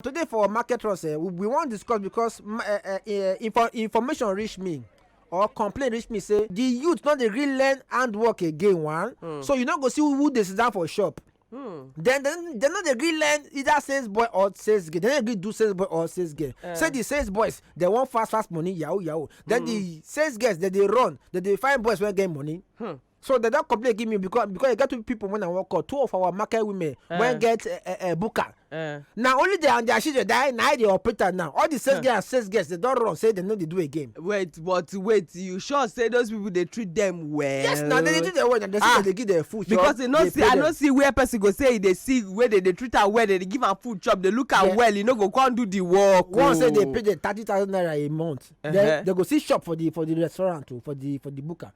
today for market runs eh, we, we wan discuss because ma- eh, eh, eh, info, information reach me or complaint reach me say the youth no dey gree learn handwork again one mm. so you no go see who, who dey sit down for shop mm. then then dem no dey gree learn either sales boy or sales girl dem no dey gree do sales boy or sales girl uh. say the sales boys dem wan fast fast money yahoo yahoo then mm. the sales girls dem dey run dem dey find boys wey get money. Hmm. so dem don complain give me because because e get two people when i work out two of our market women uh. wey get uh, uh, uh, buka uh. na only their and their children die na i dey operate am now all the sales uh. girls and sales girls dey don run say dem no dey do again. wait but wait you sure say those people dey treat them well. yes na they dey treat them well na they say ah. they dey give them food chop because you no see i no see where person go say e dey sick wey dey dey treat am well dey dey give am food chop dey look am yeah. well e no go come do the work. Oh. one say dey oh. pay dem thirty thousand naira a month uh -huh. then they go see shop for the for the restaurant o oh, for the for the buka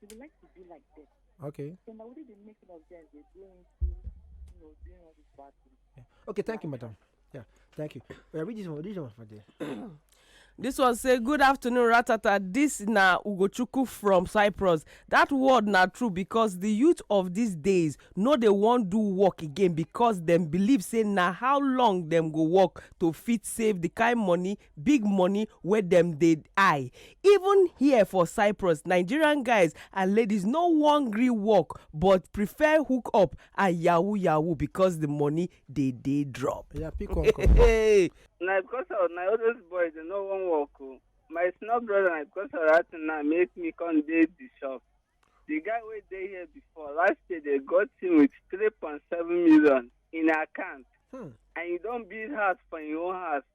She would like to be like them. Okay. So now they make it of them, they go into, you know, doing all this bad things. Yeah. Okay, thank you, madam. Yeah, thank you. We are reading this one for there. This one say good afternoon ratata This na ugochukwu from cyprus That word na true because the youth of these days no dey wan do work again because dem believe say na how long dem go work to fit save the kind money big money wey dem dey eye even here for cyprus nigerian guys and ladies no wan gree work but prefer hook up and yahoo yahoo because the money dey dey drop. Yeah, pick one call. Hey, na because of na all those boys dey no wan work o my small brother na because of that thing na make me come dey the shop the guy wey dey here before last year they got him with three point seven million in account Hmm. and he don build house for him own house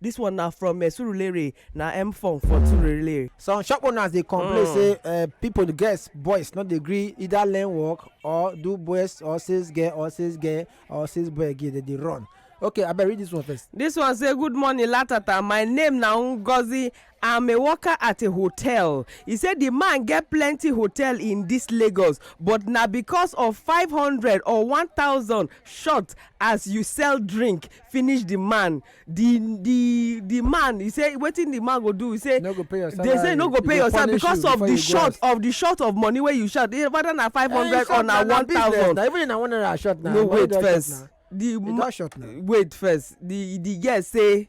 This one na from uh, Surulere, na M form for Surulere. Some shop owners dey complain Mm. say uh, people girls boys no dey gree either learn work or do boys or sales girl or sales girl or sales boy again dem dey run. Okay abeg read this one first. This one say good morning latata my name na Ngozi I'm a worker at a hotel. He say the man get plenty hotel in this Lagos, but na because of 500 or 1000 short as you sell drink finish the man. The the the man he say wetin the man go do? He say no go pay your salary. They say no go pay your salary because of the short of the short of money wey you short. Eh, whether na 500 eh, or na 1000. Na even na one naira short na. No wait first. The, the short na. Wait first. The the girl say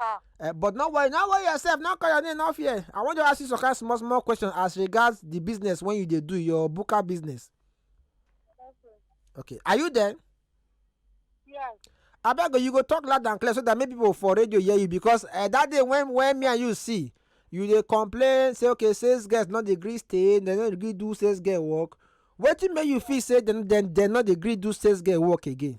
Ah. Uh, but no worry, no worry yourself, no call your name, no fear. I want to ask you some kind of small, small question as regards the business when you they do your booker business. Okay. Okay. Are you there? Yes. I beg you go talk loud and clear so that maybe people for radio hear you because uh, that day when when me and you see you they complain say okay sales girls not the green stay they not agree do sales girl work wetin make you feel say then then they not agree do sales girl work again.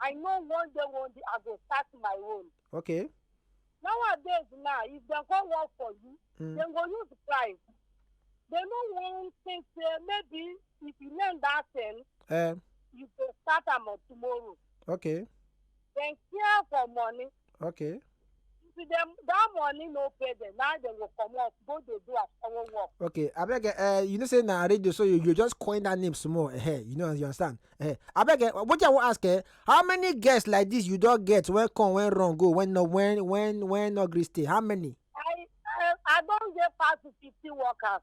I know one day one day I go start my own. Okay. Nowadays now, if they go work for you, mm. they go use price. They no want think say maybe if you learn that thing, um, you go start am tomorrow. Okay. Then care for money. okay see them that money no pay them now they go comot go dey do asawo work. okay abeg uh, you know say na radio so you, you just coin that name small uh, eh, you know you understand uh, eh, abeg uh, wetin i wan ask uh, how many guests like this you don get when come when run go when no when when when no gree stay how many. i i, I don get pass fifty workers.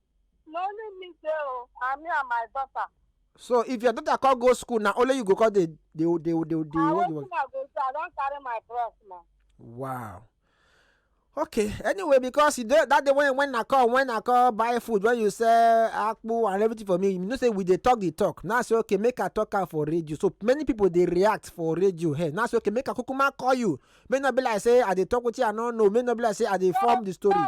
na only me dey o and me and my daughter so if your daughter come go school na only you go come dey dey dey dey dey na hold the wetin i go do i don carry my cross now wow okay anyway because you dey that day when when i come when i come buy food when you sell akpu and everything for me you know say we dey talk the talk now say okay make i talk am for radio so many people dey react for radio here now say okay make i kukuma call you make no be like say i dey talk wetin i no know make no be like say i dey form the story. no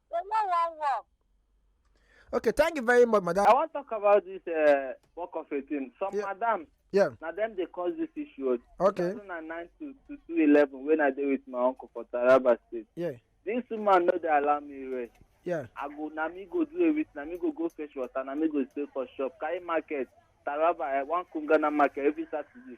They no wan work. Okay, thank you very much, madam. I want to talk about this uh, work of a thing. Some yeah. madam, yeah. now them they cause this issue. Okay. 2009 to, to 2011 when I did with my uncle for Taraba State. Yeah. This woman know they allow me rest. Yeah. I go, na me go do a with, na me go go fetch water, na me go stay for shop, carry market, Taraba, uh, one Kungana market every Saturday.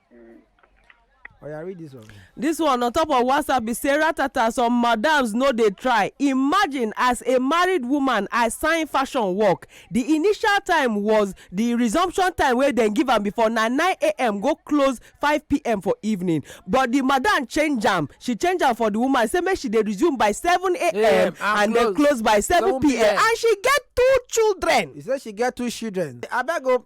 Mm. Oh, yeah, read this one. This one on top of WhatsApp is say ratata some madams no dey try. Imagine as a married woman I sign fashion work. The initial time was the resumption time wey dem give am before na 9 a.m. go close 5 p.m. for evening. But the madam change am. She change am for the woman say make she dey resume by 7 a.m. and then close by 7 p.m. and she get two children. He say she get two children. Abeg o,